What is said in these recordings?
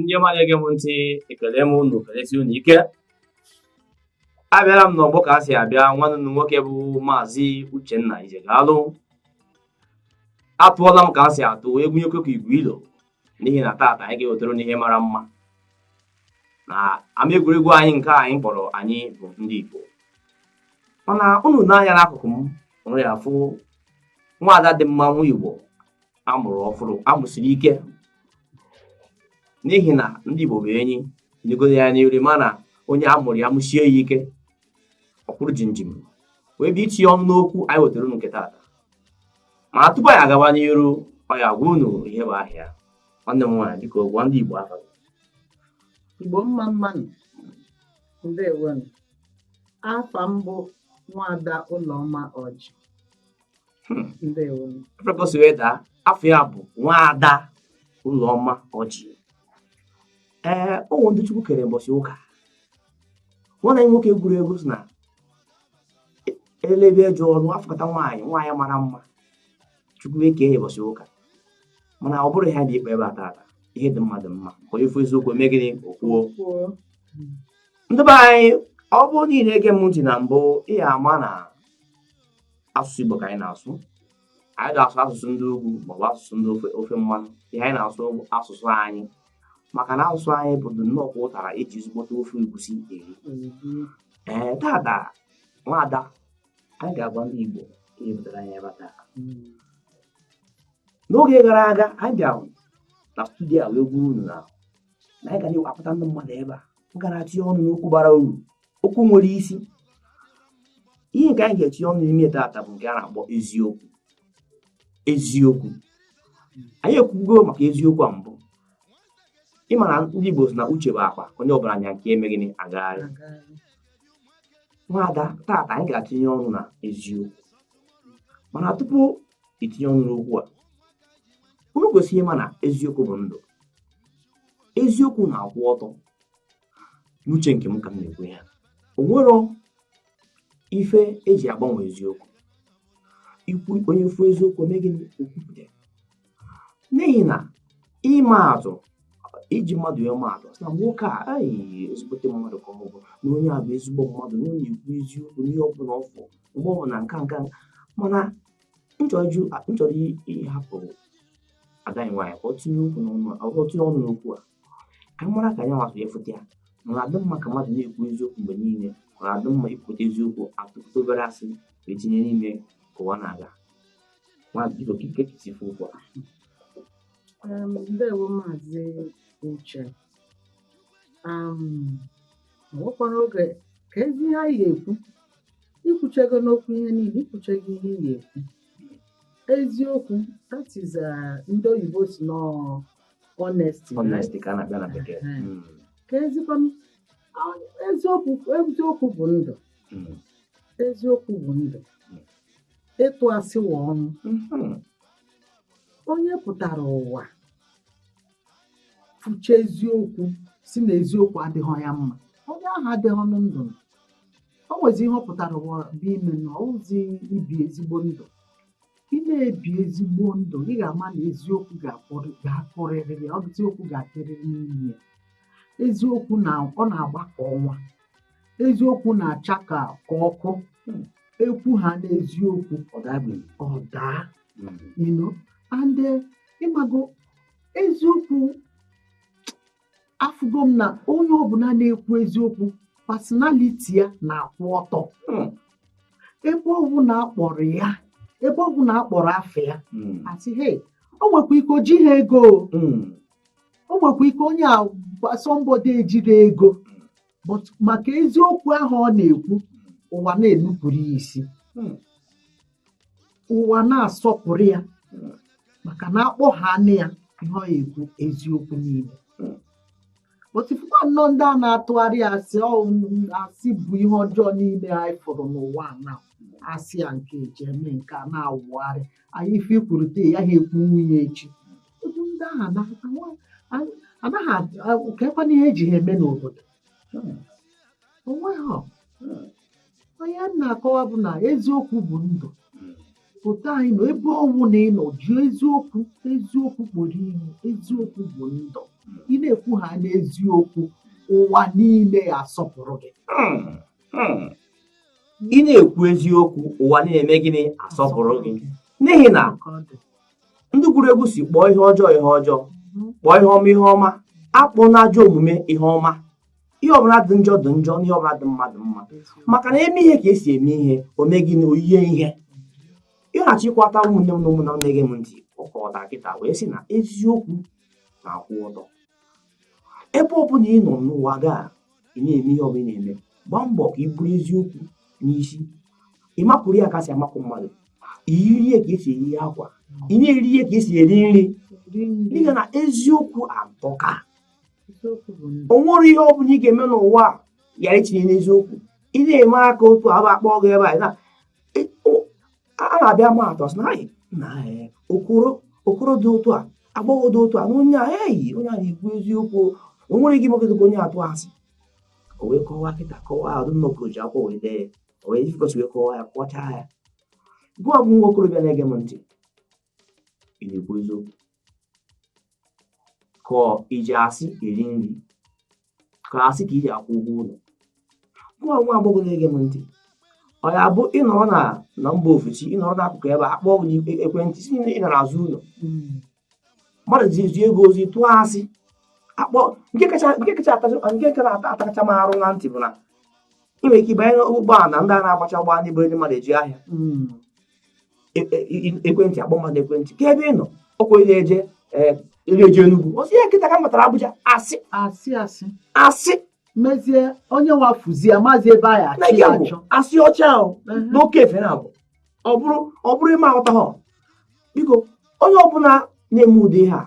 ndị ọma na-ege m ntị ekele m unu kelesi unu ike abịara m n'ọgbọ ka a si abịa nwanne unu nwoke bụ maazị Uchenna Ijegalụ atụọla m ka a si atụ egwunyekwe ka igwe ilo n'ihi na taata anyị ga-ewetara unu ihe mara mma na ama egwuregwu anyị nke anyị kpọrọ anyị bụ ndị Igbo mana unu nee anya n'akụkụ m unu ya afụ nwaada dị mma nwa Igbo amụrụ ọfụma amụsiri ike n'ihi na ndị Igbo bụ enyi nyegoro ya n'iri mana onye amụrụ amụsie ya ike ọ kwụrụ chịm chịm wee bịa itinye ọnụ n'okwu anyị wetara unu nke taata ma tupu anyị agawa n'iru ọ ya agwa unu ihe bụ aha ya nwanne m nwaanyị biko gwa ndị Igbo afa Igbo mma mma nụ ndewonụ afa m bụ nwaada ụlọma ọjị hmm. ndewonụ prepọsị wee daa afa ya bụ nwaada ụlọma ọjị ee ụmụ ndị Chukwu kere mbọsị ụka nwanne nwoke gụrụ egwu sị na elebe eje ọrụ afụkata nwaanyị mara mma chukwu eke ya mbọsị ụka mana ọ bụrụ ha dị ikpe ebe a tata ihe dị mma dị mma onye fụ eziokwu mee gịnị okwuo ndị be anyị ọ bụrụ na ị na-ege m ntị na mbụ ị ya ama na asụsụ Igbo ka anyị na-asụ anyị ada asụ asụsụ ndị ugwu maọbụ asụsụ ndị ofe mmanụ ihe anyị na-asụ bụ asụsụ anyị maka na asụsụ anyị bụ nnọọ kwa ụtara eji ezigbote ofe egusi eri mm-hmm. ee tata nwaada anyị ga-agwa ndị Igbo ihe butere anyị ebe taa mm. n'oge gara aga anyị bịara na studio a wee gwa unu na anyị ga na-akpọta ndị mmadụ ebe a m ga na-atinye ọnụ n'okwu bara uru okwu nwere isi ihe nke anyị ga-etinye ọnụ n'ime tata bụ nke a na-akpọ eziokwu eziokwu anyị ekwugo maka eziokwu a mbụ ịma na ndị Igbo si na uche bụ akpa onye ọbụla nya nke ya eme gịnị agagharị nwaada tata anyị ga-atinye ọnụ na eziokwu mana tupu itinye ọnụ n'okwu a unu kwesị ịma na eziokwu bụ ndụ eziokwu na-akwụ ọtọ n'uche nke m ka m na-ekwu ya o nwero ife eji agbanwe eziokwu ikwu onye fụ eziokwu o mee gịnị o kwupụta n'ihi na ịma atụ iji mmadụ ya ma atụ na nwoke a aghịghị ezigbote mmadụ ka ọ bụ na onye a bụ ezigbo mmadụ na onye a na-ekwu eziokwu n'ihe ọ bụla ọ fụ mgbe ọ na nka nka mana m chọrọ ịhapụ ada anyị nwaanyị ka ọ tinye ọnụ n'okwu a ka m mara ka anyị nwa si afụta ya ọ na-adị mma ka mmadụ na-ekwu eziokwu mgbe niile ọ na-adị mma ikwute eziokwu atụpụta obere asị wee tinye n'ime ka ụwa na-aga maazị biko kee ka i si fụ okwu a Um, ndewo maazị uche um, nwekwara oge keezi ihe anyị ga-ekwu ikwuchego n'okwu ihe niile ikwuchego ihe ị ga-ekwu eziokwu that is uh, ndị oyibo sị na ọ honesty honesty ka a na-akpọ ya na bekee hmm. Hmm. keezikwa eziokwu eziokwu bụ ndụ hmm. eziokwu bụ ndụ ịtụ asị wụ ọnwụ onye pụtara ụwa fụcha eziokwu sị na eziokwu adịghị ya mma onye ahụ adịghịnụ ndụ o nwezi ihe ọ pụtara ụwa bịa ime na ọwụzi ibi ezigbo ndụ ị na-ebi ezigbo ndụ ị ga-ama na eziokwu ga-akpọrị ga-akọrịrị ya ọ eziokwu ga-adịrịrị n'ime ya eziokwu na ọ na-agba ka ọnwa eziokwu na-acha ka ka ọkụ Hmm. ekwuhana eziokwu ọ dabeghị ọ daa Mm. you know and eh, ịmago eziokwu afụgo m na onye ọbụla na-ekwu eziokwu personality ya na-akwụ ọtọ hmm. ebe ọbụla akpọrọ ya ebe ọbụla akpọrọ afa ya hmm. asị he o nwekwa ike o jighị ego hmm. o nwekwa ike onye a somebody ejirọ ego but maka eziokwu ahụ ọ na-ekwu ụwa na-enupụrụ ya isi hmm. ụwa na-asọpụrụ ya hmm. maka na akpọhanụ ya ihe ọ ekwu eziokwu niile hmm. but fụkwanụ ndị a na-atụgharị asị asị bụ ihe ọjọọ niile anyị fụrụ n'ụwa na asị ya nke eji eme nke a na-awụgharị anyị ife i kwuru taa ha ekwunwoo ya echi otu ndị ahụ anaghị anwa- a- anaghị adị- a- keekwanụ ihe eji ha eme n'obodo Hmm. onweghị ọ. Hmm. ihe m na-akọwa bụ na eziokwu bụ ndụ Hmm. pụta anyị nọ ebe ọwụna ị nọ ji eziokwu eziokwu kpọrọ ihe eziokwu bụ ndụ ị na-ekwuhana eziokwu ụwa niile asọpụrụ gị Hmm. Hmm. ị na-ekwu eziokwu ụwa na-eme gịnị asọpụrụ gị n'ihi na Ka ọ dị. ndị gụrụ egwu sị kpọọ ihe ọjọọ ihe ọjọọ kpọọ ihe ọma ihe ọma akpọna ajọ omume ihe ọma ihe ọbụla dị njọ dị njọ na ihe ọbụla dị mma dị mma maka na eme ihe ka esi eme ihe o mee gịnị o yie ihe ị ga-achịkọta ụmụnne m na ụmụnna na-ege m ntị ọkọta kịta wee sị na eziokwu na-akwụ ọtọ ebe ọ bụla ị nọ n'ụwa gị a ị na-eme ihe ọbụla ị na-eme gbaa mbọ ka i buru eziokwu n'isi ị makụrụ ya ka esi amakụ mmadụ i yiri ya ka esi eyi akwa ị na-eri ya ka esi eri nri n'ihi na eziokwu atọka o nwere ihe ọ bụla ị ga-eme n'ụwa a ghara itinye eziokwu ị na-eme aka otu a akpọ gị ebe a a na-abịa ma atọ sị na anyị na eh, okoro okoro dị otu a agbọghọ dị otu a na onye a eyi onye a na-ekwu eziokwu o nwere ike imekọta ka onye a tụọ asị o wee kọwaa nkịta kọwaa ọdụ nna okoro ji akwụkwọ wee dee ya o wee jikọsi wee kọwaa ya kọchaa ya gị bụ nwa okorobịa na-ege m ntị ị na-ekwu eziokwu ka i ji asị eri nri ka asị ka i ji akwụ ụgwọ ụlọ gị nwa agbọghọ na-ege m ntị ọ ya abụ ị nọrọ na na mba ofesi ị nọrọ n'akụkụ ebe a kpọọ gị e, ekwentị sị na ị nọ n'azụ ụlọ hmm. mmadụ ji ezu ego ozi tụọ asị akpọ nke kacha nke kacha atakacha m arụ na ntị bụ na ị nwere ike ịbanye n'ụgbọala ndị a na-agbacha ụgbọala ndị buru ndị mmadụ eje ahịa hmm. e, e, e, ekwentị a kpọọ mmadụ ekwentị kee ebe ị nọ ọkwa onye eje eje Enugwu ọ sị ya kịta ka m batara Abuja asị asị asị asị mezie onye wa efuzie amazị ebe a ya achọ ya achọ asị ọcha ahụ n'oke efe na abụ ọ bụrụ ọ bụrụ ị ma aghọta ha biko onye ọbụla na-eme ụdị ihe a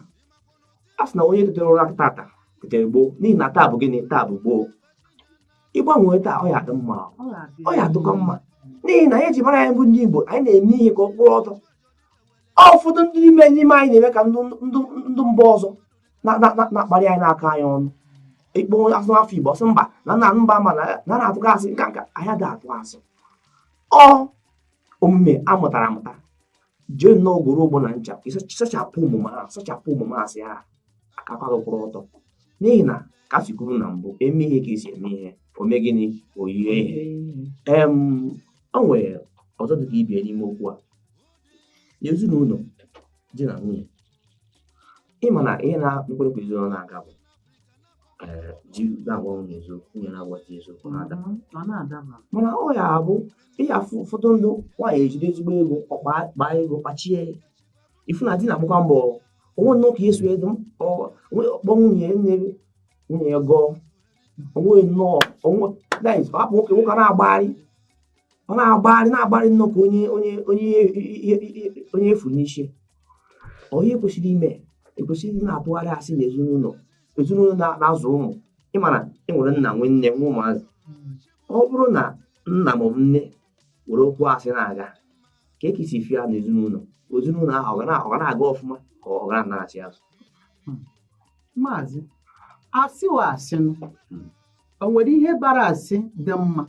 a sị na onye tetere ụra tata tetere gboo n'ihi na taa bụ gịnị taa bụ gboo ị gbanwee taa ọ ya adị mma ọ ya adịkọ mma n'ihi na ihe eji mara anyị bụ ndị Igbo anyị na-eme ihe ka ọ kwụrụ ọtọ ụfọdụ ndị n'ime n'ime anyị na-eme ka ndụ mba ọzọ na-akparị anyị na-akọ anyị ọnụ ị kpọọ sị nwa afọ Igbo ọ sị mba na nna mba ma na na-atụkọ asị nka nka anyị ada atụ asị ọ omume a mụtara amụta jee nnọọ goro ogbo na ncha sachapụ omume ahụ sachapụ omume asị ahụ ka aka gị kwụrụ ọtọ n'ihi na ka si kwuru na mbụ e mee ihe ka esi eme ihe o mee gịnị o yie ihe ee o nwere ọzọ dị ka ibe ya n'ime okwu a n'ezinụlọ di na nwunye ị ma na ihe na-ekwere ka ezinụlọ na-aga bụ mana ọ ya abụ ị ya afụ ụfọdụ ndụ nwaanyị ejide ezigbo ego ọ kpaa ego kpachie ifu na di na-agbakwa mbọ onwe nnọọ ka eso edo kpọ nwunye nne nwunye ya gọọ onwe nnọọ onwe hapụ nwoke nwoke na-agbagharị ọ na-agbagharị na-agbagharị nnọọ ka onye onye onye onye efu n'isi ọ ihe ekwesịrị ime ekwesịrị na-atụgharị asị na ezinụlọ ezinụlọ na-azụ ụmụ ịmara enwere nna nwee nne nwee ụmụazị ọ bụrụ na nna maọbụ nne were okwu asị na-aga ka e kesi fia na ezinụlọ ezinụlọ ahụ ọ ga na-aga ọfụma ka ọ ga na-achị azụ maazị asị wa asịnụ o nwere ihe bara asị dị mma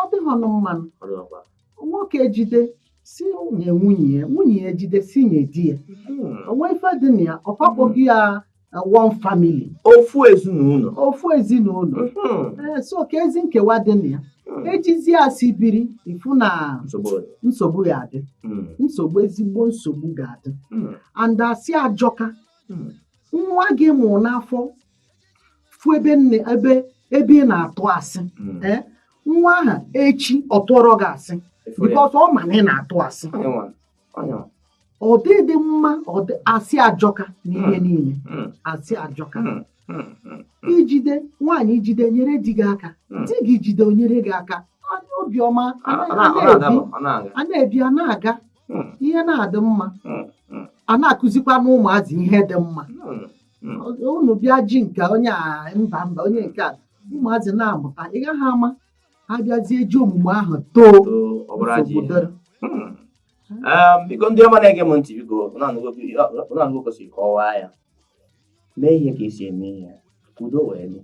ọ dịghọnụ mma nụ nwoke ejide asị nye nwunye ya nwunye ya ejide asị nye di ya hmm. o nwe ife dị na ya ọ kwa akpọghị ya uh, one family ofu ezinụlọ ofu ezinụlọ hmm. eh, so keezi nkewa dị na ya hmm. ejizi asị biri ị fụ na nsogbu ya-adị nsogbu ezigbo nsogbu ga-adị and asị ajọka nwa gị ị mụrụ n'afọ fụ ebe nne ebe ebe ị na-atụ asị hmm. eh, nwa aha echi ọ tụọrọ gị asị because ọ ma na ị na-atụ asị ọ dịdị mma asị ajọka n'ihe hmm. niile hmm. asị ajọka i jide nwaanyị i jide nyere di gị aka di gị jide o nyere gị aka obiọma a na-ebi a na-aga ihe na-adị mma a na-akụzikwanụ ụmụazị ihe dị mma unu bịa ji nke onye a mba mba onye nke a ụmụazị na-amụta ị gaghị ama ha bịazie ji omume ahụ too obodo biko ndị ọma na-ege m ntị biko unu anụgo ka esiri kọwaa ya mee ihe ka esi eme ihe udo wee dị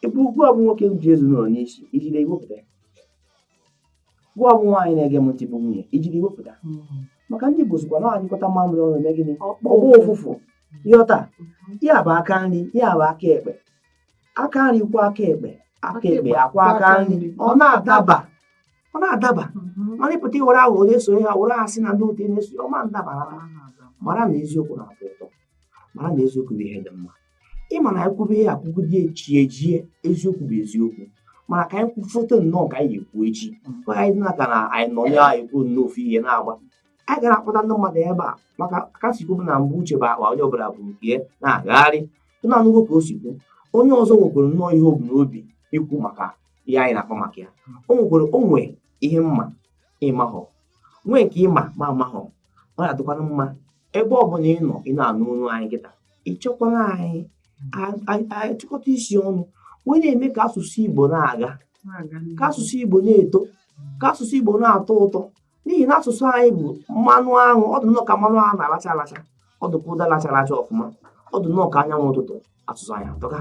ebe gịwa bụ nwoke ji ezinụlọ n'isi i jide i wepụta gịwa bụ nwaanyị na-ege m ntị bụ nwunye i jide i wepụta hmm. maka ndị Igbo sịkwa na anyụkọta mamịrị ọnụ eme gịnị ọ gbọ ụfụfụ ịghọta hmm. ya bụ aka nri ya bụ aka ekpe aka nri kwọọ aka ekpe aka ekpe akwọọ aka nri ọ na-adaba ọ na-adaba hmm. mana ị pụta i were ahụ onye so ha were asị na ndị otu na-eso ọ ma ndaba mara na eziokwu na-atọ ụtọ mara na eziokwu bụ ihe dị mma ịma na anyị kwube ihe a kwugide chi ejie eziokwu bụ eziokwu mana ka anyị kwufote nnọọ ka anyị ekwu echi mgbe anyị na ka na anyị nọ ya ekwu nnọọ ofu ihe na-agba anyị gara akpọta ndị mmadụ ebe a maka ka e si kwubu na mbụ uche bụ akpa onye ọbụla bu nke ya na-agagharị unu anụgo ka o si kwu onye ọzọ nwekwara nnọọ ihe o bu n'obi ikwu maka ihe anyị na-akpa maka ya o nwekwara o nwee ihe m ma ị mahọ nwee nke ị ma m amahọ ọ na-adịkwanụ mma ebe ọ bụla ị nọ ị na-anụ olu anyị kịta ị chọkwara anyị anyị chịkọta isi ọnụ wee na-eme ka asụsụ Igbo na-aga ka asụsụ Igbo na-eto ka asụsụ Igbo na-atọ ụtọ n'ihi na asụsụ anyị bụ mmanụ aṅụ ọ dị nnọọ ka mmanụ aṅụ a na-alacha alacha ọ dị ka ụdala chara acha ọfụma ọ dị nnọọ ka anyanwụ ụtụtụ asụsụ anyị atọka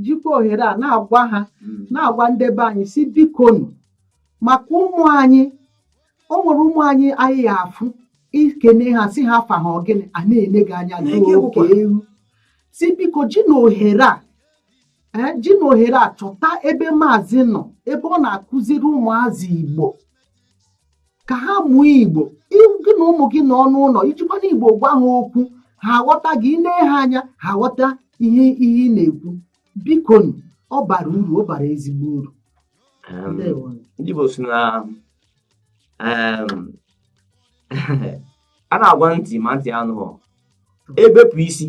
jikwa ohere a na-agwa ha hmm. na-agwa ndị be anyị sị bikonu maka ụmụ anyị o nwere ụmụ anyị anyị ya-afụ ị kene ha sị ha afa ha ọ gịnị a na-ele gị anya ka oke ewu sị biko jinụ ohere a eh, jinụ ohere a chọta ebe maazị nọ ebe ọ na-akụziri ụmụazị igbo ka ha mụọ igbo gị na ụmụ gị nọ n'ụlọ i jikwanụ igbo gwa ha okwu ha aghọta gị i nee ha anya ha aghọta ihe ihe ị na-ekwu bikonu ọ bara uru ọ bara ezigbo uru ndị Igbo sị na a na-agwa ntị ma ntị anụghọ e bepụ isi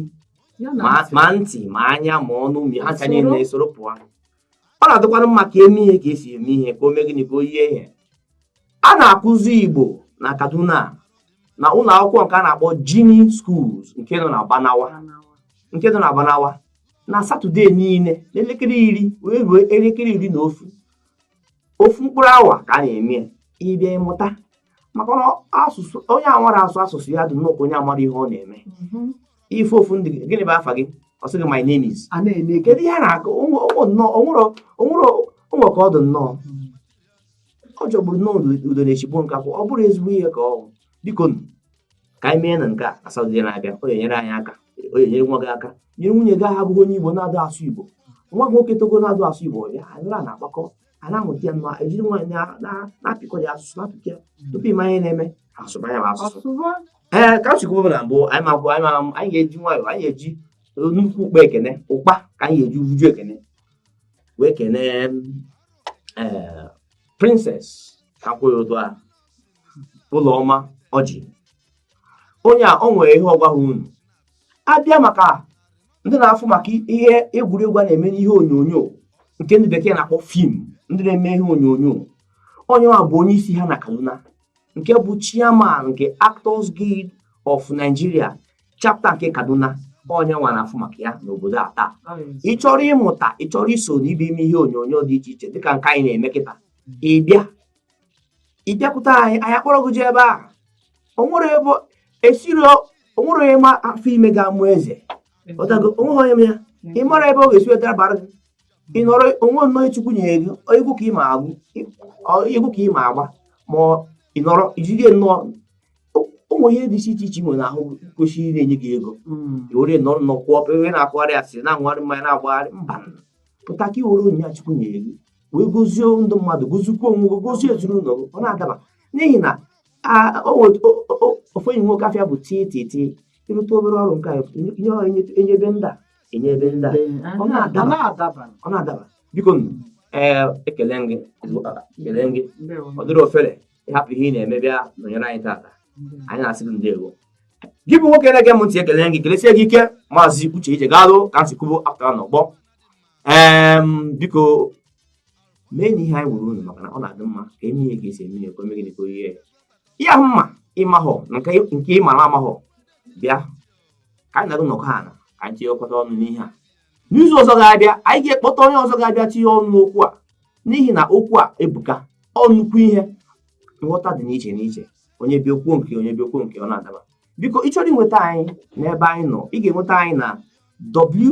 ma ntị ma anya ma ọnụ ma ha ncha niile esoro pụọ ọ na-adịkwara mma ka e mee ihe ka e si eme ihe ka o mee gịnị ka o yie ihe a na-akụzi Igbo na Kaduna na ụlọ akwụkwọ nke a na-akpọ Jinie Schools nke nọ na Barnawa nke nọ na Barnawa na satọde niile n'elekere iri wee ruo elekere iri na ofu ofu mkpụrụ awa ka a na-eme ị bịa ị mụta maka na asụsụ onye amarọ asụ asụsụ ya dị nnọọ ka onye amarọ ihe ọ na-eme mm-hmm. ị fụ ofu ndị gịnị bụ afa gị ọ sị gị my name is kedu ihe a na-akọ o nwere ka ọ dị nnọọ mm. ọ jọgburu nnọọ udene shigbuo nkakwụ ọ bụrọ ezigbo ihe ka ọ bụ biko ka anyị mee na nke a satọde na-abịa ọ ga-enyere anyị aka ọ ga-enyere nwa gị aka nyere nwunye gị abụghị onye Igbo na-adụ asụ Igbo nwa gị nwoke togo na-adụ asụ Igbo bịa anyị na-akpakọ a na-amụta ya nnọọ e jiri nwayọọ na-apịkọ ya asụsụ na-apịkọ ya tupu ị ma ihe na-eme asụba ya bụ asụsụ ee ka m si kwuo na mbụ anyị magwụ anyị ga-eji nwayọọ anyị ga-eji nnukwu ụkpa ekene ụkpa ka anyị ga-eji uju ekene wee kenee ee Princess akwụghị ụdụ a Ụlọma Ọjị onye a o nwere ihe ọ gwa ha unu abịa maka ndị na-afụ maka ihe egwuregwu a na-eme n'ihe onyonyo nke ndị bekee na-akpọ film ndị na-eme ihe onyonyo onye a bụ onye isi ha na Kaduna nke bụ chairman nke Actors Guild of Nigeria chapter nke Kaduna onye nwa na-afụ maka ya n'obodo a taa ị chọrọ ịmụta ị chọrọ iso na ibe ime ihe onyonyo dị iche iche dịka nke anyị na-eme kịta ị bịa ị bịakwute anyị anyị akpọrọ gị jee ebe a o nwere ebe e siri o nwere onye ma afọ ime ga-amụ eze ọtago o nweghị onye ya ị mara ebe ọ ga-esi wee dabara gị ị nọrọ onwe nnọọ chukwu nyere gị egwu ka ị ma agụ egwu ka ị ma agba ma ị nọrọ ijide nnọọ ụmụ ihe dị iche iche nwere ahụ kwesịrị ịna-enye gị ego hmm. i were nọ nnọọ kwụọ ebe na-akwụgharị asịrị na-aṅụgharị mmanya na-agbagharị mba pụta ka i were onyinye chukwu nyere gị wee gozie ndị mmadụ gozikwuo onwe gị gozie ezinụlọ gị ọ na-adaba n'ihi na ofu enyi nwoke afa ya bụ tii tii tii ị rụta obere ọrụ nke ihe ọ enyebe ndị a enyebe ndị a ọ na-adaba biko ee ekele gị ekele gị ọ dịrọ ofele ịhapụ ihe ị na-eme bịa nọnyere anyị tata anyị na-asị gị ndewo gị bụ nwoke na-ege m ntị ekele gị kelesie gị ike maazị uche ijegalụ ka m si kwubu apụtara n'ọgbọ biko meenụ ihe anyị gwara unu maka na ọ na-adị mma ka e mee ihe ka e si eme ihe ka o mee gịnị ka oyihe ya mma ịmahọ nke ịmara amahọ bịa ka anyị na gị nọkọ ala ka anyị tinyekọta ọnụ n'ihe a n'izu ọzọ ga-abịa anyị ga-akpọta onye ọzọ ga-abịa tinye ọnụ n'okwu a n'ihi na okwu a ebuka ọ nnukwu ihe nghọta dị n'iche n'iche onye bịa o kwuo nke ya onye bịa o kwuo nke ya ọ na-adaba biko ị chọrọ inweta anyị n'ebe anyị nọ ị ga-enweta anyị na w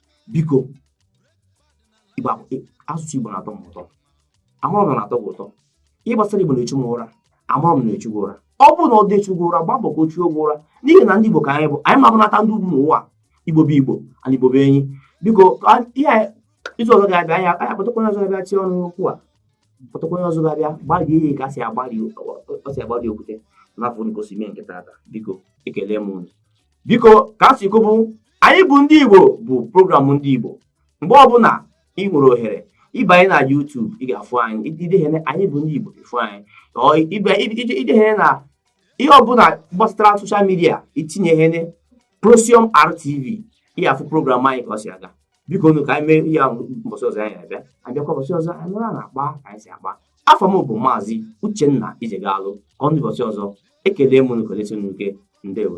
biko asụsụ igbo na-atọ m ụtọ amara m na-atọ gị ụtọ ihe gbasara igbo na-echu m ụra amara m na-echu gị ụra ọ bụrụ na ọ dị echu gị ụra gbaa mbọ ka o chuo gị ụra n'ihi na ndị igbo ka anyị bụ anyị ma-abụnata ndị ugwu n'ụwa igbo bụ igbo ana igbo bụ enyi biko ihe izu ọzọ ga-abịa anyị anyị akpọtakwa onye ọzọ ga-abịa tie ọnụ n'okwu a kpọtakwa onye ọzọ ga-abịa gbarie ihe ka e si agbari okwute n'afọ nke osimiri nke tata biko ekele m unu biko ka m si kwubu anyị bụ ndị Igbo bụ programụ ndị Igbo mgbe ọbụla ị nwere ohere ị banye na YouTube ị ga-afụ anyị idehene anyị bụ ndị Igbo ị fụ anyị idehene na ihe ọbụla gbasatara soshal midia itinye hene Prosium RTV ị ga-afụ programụ anyị ka ọ si aga bikonu ka anyị mee ihe ahụ mbọsị ọzọ anyị na-abịa abịakwa mbọsị ọzọ anyị nọrọ na-akpa ka anyị si akpa afa m bụ maazị uchenna ijegalụ ka ọ dị mbọsị ọzọ ekele m unu kelesie unu ike ndewo